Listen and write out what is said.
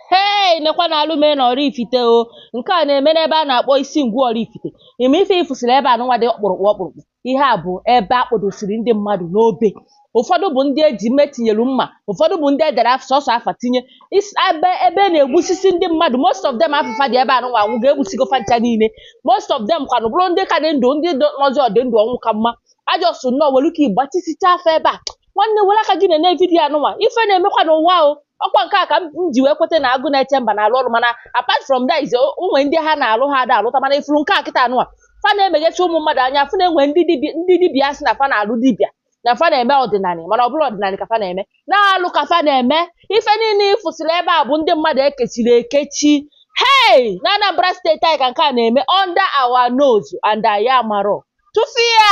hei nekwa na alụ mee na Oraifite o nke a na-eme n'ebe a na-akpọ Isingwu Oraifite ime ife ị fụsịrị ebe a nụnwa dị ọkpụrụkpụ ọkpụrụkpụ ihe a bụ ebe a kpọdosiri ndị mmadụ n'obe ụfọdụ bụ ndị e ji mme tinyelu mma ụfọdụ bụ ndị e dere af- sọsọ afa tinye Is- ebe ebe na-egbusisi ndị mmadụ most of them afa fa dị ebe a nụnwa ọnwụ ga-egbusigo fa ncha niile most of them kwanụ bụrụ ndị ka dị ndụ ndị dị- nọzi ọ dị ndụ ọnwụ ka mma ajọsụ nnọọ were ike igbatisichaa afọ ebe a nwanne were aka gị na-ene vidiyo a nụnwa ife na-emekwa n'ụwa o ọkwa nke a ka m ji wee kweta na Agụnechemba na-alụ ọrụ mana apart from that is o nwe ndị ha na-alụ ha ada alụta mana ị fụrụ nke a kịta a nụwa fa na-emeghesi ụmụ mmadụ anya fụ na e nwe ndị dibịa ndị dibịa sị na fa na-alụ dibịa na fa na-eme ọdịnala mana ọ bụrọ ọdịnala ka fa na-eme na alụ ka fa na-eme ife niile ị fụsịrị ebe a bụ ndị mmadụ e kechiri ekechi hey na Anambra State anyị ka nke a na-eme under our nose and anyị amarọ tụfịa